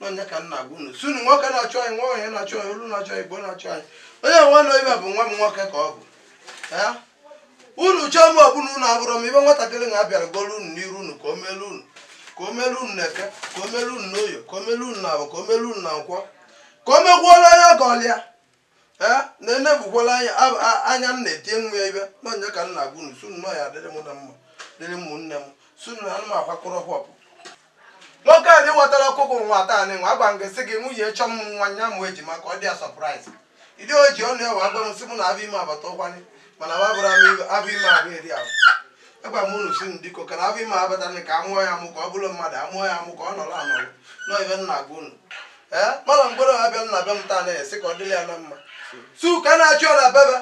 nọ nya ka m na-agwa unu si unu nwoke na-achọ anyị nwaanyị na-achọ anyị olu na-achọ anyị igbo na-achọ anyị onye nwa na ibe bụ nwa m nwoke ka ọ bụ unu chọọ m ọbụla unu abụrụ m ibe nwatakịrị na abịara golu unu n'iru unu ka o melu unu ka o melu unu n'eke ka o melu unu n'oye ka o melu unu na afọ ka o melu unu na nkwọ ka o megwuola onye ọ gọlụ ya ee na enebukwala anya ab- a- anya m na-etie nwa ya ibe nọ nya ka m na-agwa unu sị unu na ya dịrị mụ na mma dịrị ụmụnne m sị unu na anụ m akwakọrọ hụọpụ nwoke a dịwatara ọkụkụ nwa taa nwa agwa m gị sị gị nwunye chọ m nwaanyị a mụ ejima ka ọ dị ya surprise ịdị o ji ọnụ ya wee gwa m sị mụ na afọ ime abata ụkwanye mana wa bụrụ m ibe- afọ ime afọ eri afọ agwa m unu si m biko ka na afọ ime abata nị ka a mụọ ya amụ ka ọ bụrụ mmadụ a mụọ ya amụ ka ọ nọrọ anọrọ nọọ ibe m na-agwa unu mala ngworo bịara na be m taa na-esi ka ọ dịrị ya na mma si ụka na-achị ọ na bebe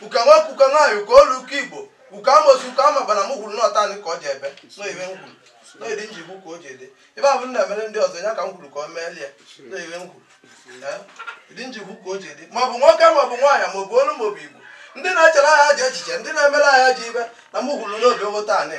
ụka nwoke ụka nwaanyị ụka olu ụka igbo ụka amosu ụka ama gbara m kwuru n'ọ taa nị ka o jedebe n'ihe m kwuru n'ịdị njikwu ka o jedebe ahụ m na-emere ndị ọzọ ya ka m kwuru ka ọ meelie n'ihe m kwuru ịdị njikwu ka o jedebe maọbụ nwoke maọbụ nwaanyị maọbụ olu maọbụ igbo ndị na-echere ya ajọ echiche ndị na-emere ya ajọ ibe na m kwuru n'obi ogo taa anyị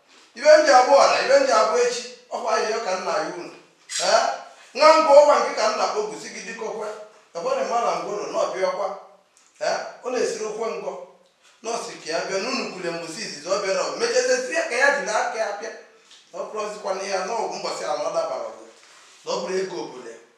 ibe m ji abụ ọra ibe m ji abụ echi ọkwa ayịyọ ka m na-ayọ unu ee nwa ngwa ọkwa nke ka m na-akpọkusi gị dịkọkwa ekwere mala ngworo na ọbịa ọkwa ee ọ na-esiri okwe ngọ n'ọ sị ka ya bịa n'unu kwule mbọsị izizi ọ bịara ọ mechazezi ya ka ya jiri aka ya bịa na ọ bụrụzikwana ya n'ọgwụ mbọsị ala ọ dabara ọgụ na ọ bụrụ ego obodo ya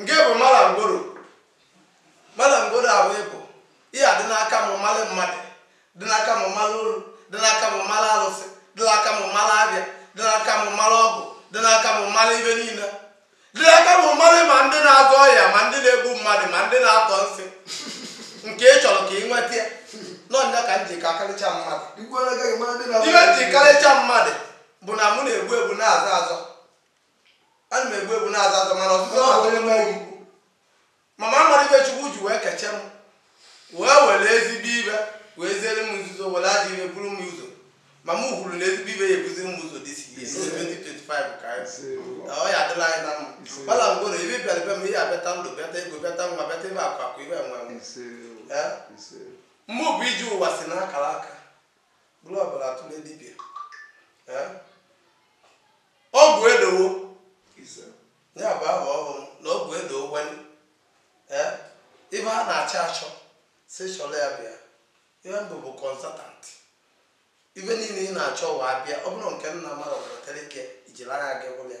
Nke bụ mala ngworo. Mala ngworo ahụ bụ ihe a dị n'aka m mmalị mmadụ dị n'aka m mmalị olu dị n'aka m mmalị alụsị dị n'aka m mmalị abịa dị n'aka m mmalị ọgwụ dị n'aka m mmalị ibe niile dị n'aka m mmalị ma ndị na-agwọ ọya ma ndị na-egbu mmadụ ma ndị na-atọ nsị nke ị chọrọ ka ị nweta ya nọ nya ka m ji ka akarịcha mmadụ ihe m ji karịcha mmadụ bụ na mụ na-egbu egbu na-azọ azọ ana m egbu egbu na-azọ azọ mana ọzụzọ Ọ na-atụ bụrụ m na egwu egwu. mama mara ibe chukwu ji wee keche m wee were ezigbo ibe wee ziere m nzuzo were ajọ ibe buru m ụzọ ma m kwuru na ezigbo ibe ya ebuziri m ụzọ this year 2025 ka anyị si. Na ọ ya adịla anyị na mma mala ngworo ibe bịara be m ihe abịata ndụ bịata ego bịata nwa bịata ibe akụ akụ ibe enwe enwe Ise o, Eh? ise o. mụ bụ ije ụwa si n'akara aka bụrụ ọbara atụle dibịa ọgwụ edowo ya bụ aha ọhụrụ na ọgwụ edowo wani ibe a na-achọ achọ si chọrọ ya bịa ihe m bụ bụ consultant ibe niile ị na-achọ wa abịa ọ bụrụ nke nna mmadụ wetara ike ijiri anya gị hụrụ ya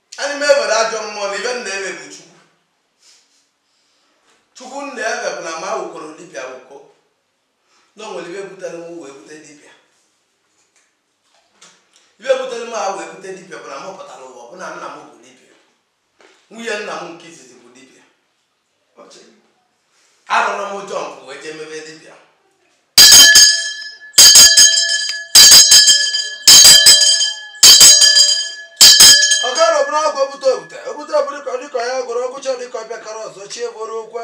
anyị m ewere ajọ mmụọ na ibe m na-ebe bụ chukwu chukwu m na-ebe bụ na ma wụkọrọ dibịa wụkọ na o nwere ibe butere m wee bute dibịa ibe butere m a wee bute dibịa bụ na m pụtara ụwa bụ na nna m bụ dibịa nwunye nna m nke izizi bụ dibịa arụrụ m ụjọ mpụ wee jee mebe dibịa ọ gara ọbụla ọgwụ obute obute obute obụrụ ka dịka ya gwụrụ ọgwụcha dịka ọbịa kara ọzọ chie bụrụ okwe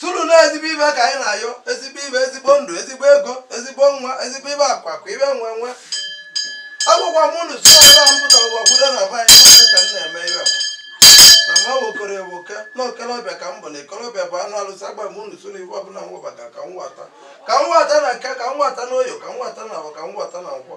sị unu na ezigbo ibe ka anyị na-ayọ ezigbo ibe ezigbo ndụ ezigbo ego ezigbo nwa ezigbo ibe akụ akụ ibe enwe enwe agwakwa m unu sị ọbụla m pụtara ụwa kwudo na be anyị na-eme ka m na-eme ibe akwa na ma wokoro ewoke na okolobịa ka m bụ na ikolobịa bụ anụ alụsị agwa m unu sị unu ibe ọbụla m webata ka m nwata ka m nwata na eke ka m nwata na oye ka m nwata na avọ ka m nwata na nkwọ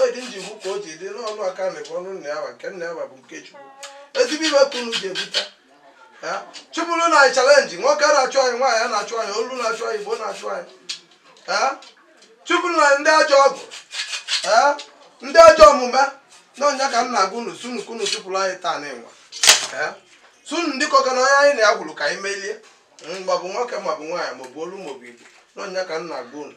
oyi dị m ji kwu ka o ji dị n'ọnụ aka na bụ ọnụ nna ya nke nna ya bụ nke chukwu ezigbo ibe ka unu ji ebute chụpụrụ na anyị chalenji nwoke na-achụ anyị nwaanyị na-achụ anyị olu na-achụ anyị igbo na-achụ anyị chụpụrụ na ndị ajọ ọgwụ ndị ajọ omume na ọ ya ka m na-agwa unu sunu ka unu chụpụrụ anyị taanị nwa sunu ndị kọka na onye anyị na-agwụrụ ka anyị melie maọbụ nwoke maọbụ nwaanyị maọbụ olu maọbụ igbo na ọ ya ka m na-agwa unu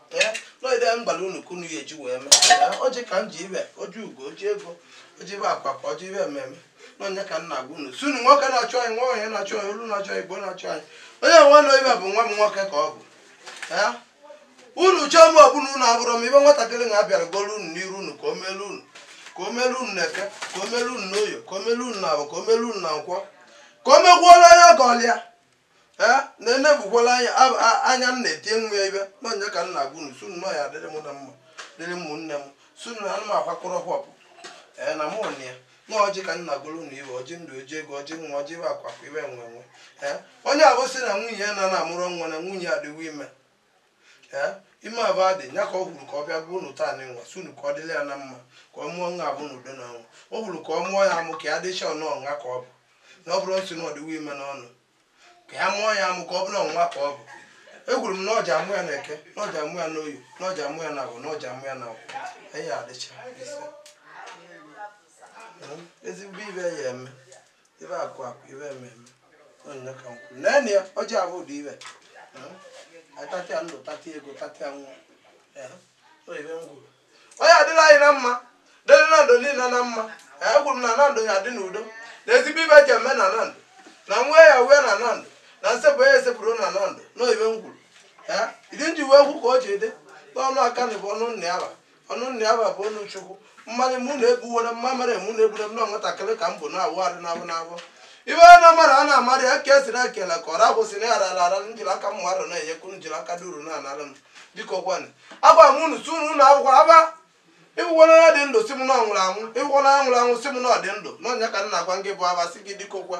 n'oge m gwara unu ka unu ya eji wee mee ọjị ka m ji ibe ọjị ugo ọjị ego ọjị ibe akụ akụ ọjị ibe enwe enwe na ọ ya ka m na-agwa unu sị unu nwoke na-achụ anyị nwaanyị na-achụ anyị olu na-achụ anyị igbo na-achụ anyị onye nwa na ibe bụ nwa m nwoke ka ọ bụ unu chọọ m ọbụla unu abụrọ m ibe nwatakịrị na abịara golu unu n'iru unu ka o melu unu ka o melu unu na eke ka o melu unu n'oye ka o melu unu na avọ ka o melu unu na nkwọ ka o megwuola onye ọgọlịa ee na enebukwala anya ab- a- anya m na-etie nwa ya ibe na ọ ya ka m na-agwa unu sunu na ya dịrị mụ na mma dịrị ụmụnne m sunu na ana m akwakọrọ hwapụ ee na mụ na ya na ọjị ka m na-agọrọ unu ibe ọjị ndụ ọjị ego ọjị nwa ọjị ibe akụ akụ ibe enwe enwe ee onye ọbụ sị na nwunye ya na na-amụrụ nwa na nwunye adịwo ime ime avụ adị ya ka ọ hụrụ ka ọ bịakwuo unu taanị nwa sị unu ka ọ dịla ya na mma ka ọ mụọ nwa avụ na udo na ọṅụ ọ hụrụ ka ọ mụọ ya amụ ka ya dịcha ọnụ ọnwa ka ọ bụ na ọ bụrụ nsị na ọ dịwo ime n'ọnụ ka ya mụọ ya amụ ka ọ bụrụ ọnwa ka ọ bụ ekwuru m na ọ ja amụ ya na eke na ọ ja amụ ya n'oye na ọ ja amụ ya na avọ na ọ ja amụ ya na nkwọ ya adịcha ezigbo ibe ya eme ibe akụ akụ ibe enwe enwe ọ ya ka m kwu naanị ya ọjị avụ ụdị ibe atatịa ndụ tatịa ego tatịa nwa ibe m kwu ọ ya adịla anyị na mma dịrị na ndụ niile na mma ekwuru m na na ndụ ya adị n'udo na ezigbo ibe ji eme na na ndụ na nwa ya wee na na ndụ na nsepụ ya esepụrụ na na ndụ na ibe m kwuru ịdị m ji wee kwu ka o ji dị n'ọnụ aka na bụ ọnụ nna ya ọnụ nna ya bụ ọnụ chukwu mmanya mụ na-ebuwere mma mere mụ na-ebure m na nwatakịrị ka m bụ na-awụ arụ n'abụ n'abụ ibe onye na-amara a na-amara ya ka esiri ekele ka ọra kwụsị na yara ara ara njiri aka mmadụ na-enyekwu njiri aka duru na anara m dịka ọgwanị agwa m unu si unu na akwụkwọ aba ịfụkwana onye dị ndụ si m na ọ nwụrụ anwụ ịfụkwana onye nwụrụ anwụ si m na ọ dị ndụ na ọnya ka m na-agwa gị bụ aba si gị dịka okwa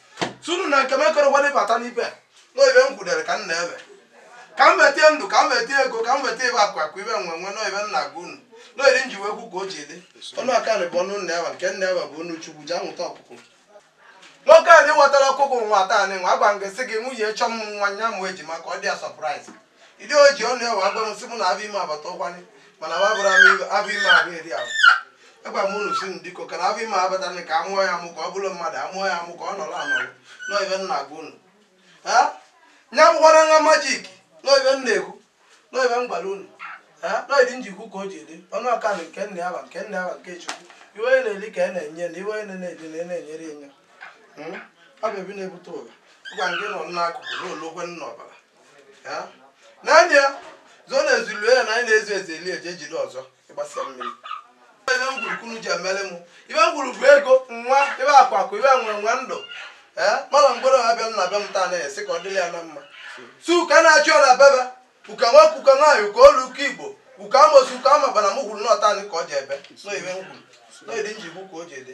sunu na nke m ekorokwa n'ịbata n'ibe n'oibe m kwudere ka m na-ebe ka m weta ndụ ka m weta ego ka m weta ibe akụ akụ ibe enwe enwe n'oibe m na-agwa unu n'oiri m ji wee kwu ka o ji dị ọnụ aka na bụ ọnụ nna ya nke nna ya bụ ọnụ chukwu ji anwụta ọkụkụ nwoke anị wetara ọkụkụ nwa taanị agwa m gị sị gị nwunye chọọ ịmụ nwa nya mụ ejima ka ọ dị ya surprise Idi o ji ọnụ ya wee gwa m sị mụ na afọ ime agbata ụkwanị mana wa bụrụ afọ ime abụ eri ahụ agwa m unu si m diko ka na afọ ime abatara ka amụọ ya amụ ka ọ bụrụ mmadụ amụọ ya amụ ka ọ nọrọ anọrọ nọibe m na-agwa unu nya bụkwara nwa magic nọibe m na-ekwu nọibe m gwara unu nọidi m ji kwu ka o ji dị ọnụ aka na nke nna ya bụ nke nna ya bụ nke chukwu ibe onye na-eli ka a na-enye na ibe onye na-eli na na-enyere enye ọ bụ ebi na-ebute ụwa gwa nke nọ n'akụkụ na olokwe nna ọbara naanị ya zụọ na ezulu ya na anyị na-ezu ezu eli eje jide ọzọ ịgbasa mmiri ibe m kwuru ka unu ji emere m ibe m kwuru bụ ego nwa ibe akụ akụ ibe enwe enwe ndụ ee mana mgbere ọha bịa na be m taa na-esi ka ọ dịrị ya na mma su ka na-achị ọra bebe ụka nwoke ụka nwaanyị ụka olu ụka igbo ụka amosu ụka amaba na m kwuru n'ọ taanị ka ọ jebe n'oyibe m kwuru n'oyidi m ji kwu ka o ji dị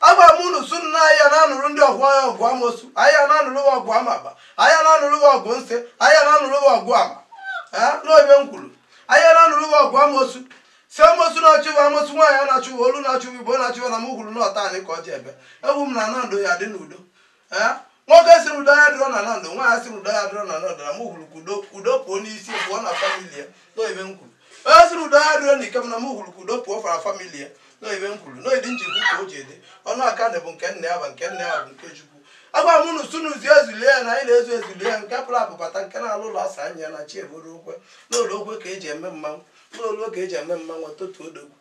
agwa m unu su nna anyị na-anụrụ ndị ọgụ anyị ọgụ amosu anyị na-anụrụ gị ọgụ amaba anyị na-anụrụ gị ọgụ nsị anyị na-anụrụ gị ọgụ ama n'oibe m kwuru anyị na-anụrụ gị ọgụ amosu si amosu na-achụ ibe amosu nwaanyị a na-achụ olu na-achụ igbo na-achụ na m kwuru n'ọ taanị ka ọ jebe ekwu m na ana ndụ ya dị n'udo nwoke siri udo ya dịrọ na ana ndụ nwaanyị siri udo ya dịrọ na ana ndụ na m kwuru ka udo udo pụọ n'isi pụọ na family ya n'oyibe m kwuru onye siri udo ya dịrọ na ike m na m kwuru ka udo pụọ fara family ya n'oyibe m kwuru n'oyidi m ji kwu ka o ji dị ọnụ aka na bụ nke nna ya bụ nke nna ya bụ nke chukwu agwa m unu sunu zie ezulie ya na anyị na-ezu ezulie ya nke pụrụ apụbata nke na-alụ ụlọ asa anya ya na chi eburu okwe n'ụlọ okwe ka eji eme mmanwụ n'ụlọ ka eji eme mmanwụ totu odogwu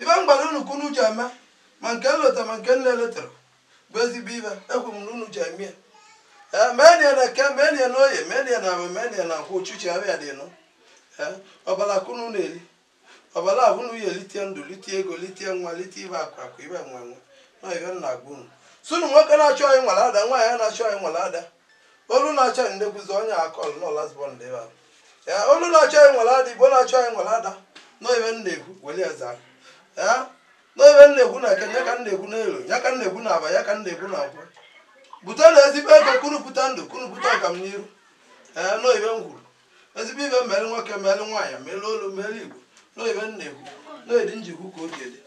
ibe m gwara unu ka unu ji eme ma nke m lota ma nke m na-elotarọ bụ ezigbo ibe ekwu m na unu ji eme ya ee meenụ ya na eke meenụ ya na oye meenụ ya na afọ meenụ ya na nkwọ ochuchi ahụ ya dị nụ ee ọbala ka unu na-eli ọbala ahụ unu ya elite ndụ lite ego lite nwa lite ibe akụ akụ ibe enwe enwe na ibe m na-agwa unu sunu nwoke na-achọ anyị nwere ada nwaanyị na-achọ anyị nwere ada olu na-achọ anyị na-ekwuzi onye a call nọ last born dị ebe ahụ ee olu na-achọ anyị nwere ada igbo na-achọ anyị nwere ada n'oyibe m na-ekwu weli eze ahụ ee n'oyibe m na-ekwu na eke ya ka m na-ekwu n'oye ya ka m na-ekwu na afọ ya ka m na-ekwu na nkwọ bute na ezigbo ibe ka unu pụta ndụ ka unu pụta ọgamniru ee n'oyibe m kwuru ezigbo ibe mere nwoke mere nwaanyị mere olu mere igbo na ibe na-ekwu na-eri njikwu ka o ji dị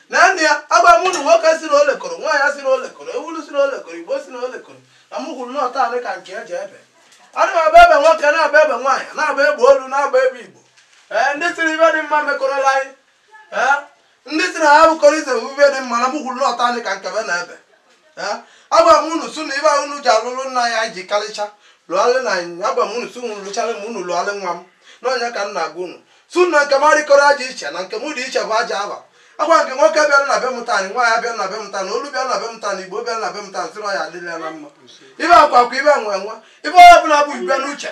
na nne ya agwa m ụnụ nwoke si na olekọrọ nwaanyị si na olekọrọ ewulu si na olekọrọ igbo si na olekọrọ na m kwuru n'ọta anị ka nke eji ebe ana m agba ebe nwoke na-agba ebe nwaanyị na-agba ebe olu na-agba ebe igbo ee ndị sịrị ibe dị mma mekọrọla anyị ee ndị si na ha bụkọrọ ize ibe dị mma na mụ kwuru n'ọta anị ka nkebe na ebe agwa m unu su na ibe ahụ unu ji alụlụ nna ya ji karịcha lụgharị na anyị agwa m unu su unu lụchara m unu lụgharị nwa m n'ọnya ka m na-agwa unu su na nke m arịkọrọ aja iche na nke m dị iche bụ aja aba agwa nke nwoke bịara na be m taanị nwaanyị bịara na be m taanị olu bịara na be m taanị igbo bịara na be m taanị sịrị ya adịrị ya na mma ibe akwa akwa ibe nwe nwa ibe onye ọbụla bụ ibe n'uche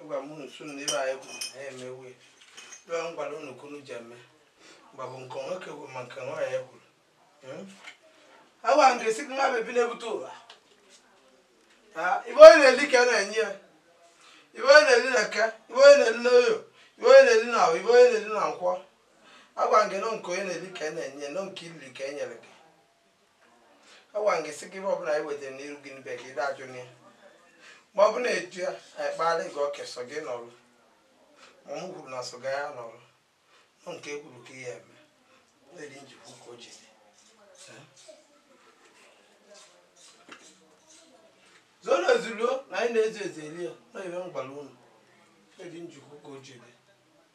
agwa m unu su n'ebe anyị kwuru na ya emewe ebe m gwara unu ka unu ji eme mgba bụ nke nwoke kwuru ma nke nwaanyị kwuru hmm? agwa m gị sị gị nwa bebi na-ebute ụwa ibe onye na-eli ka a na-enye ya ibe onye na-eli n'eke ibe onye na-eli n'oye ibe onye na-eli n'ahọ ibe onye na-eli na nkwọ Agwa m gị na ọ nke onye na-eli ka e na-enye na ọ nke i liri ka e nyere gị agwa m gị sị gị ibe ọbụla anyị wetara n'iru gị n'ibe ka ị dajụ na ya ma ọ bụ na-eju ya anyị kpagharị gị ọka sọ gị nụrụ ma mụ kwuru na sọ gị ya nụrụ na ọ nke e kwuru ka e ya-eme na-eri njikwu ka o ji dị zoo na ezuruo na anyị na-ezu ezu eli ya na ebe m gwala unu na-eri njikwu ka o ji dị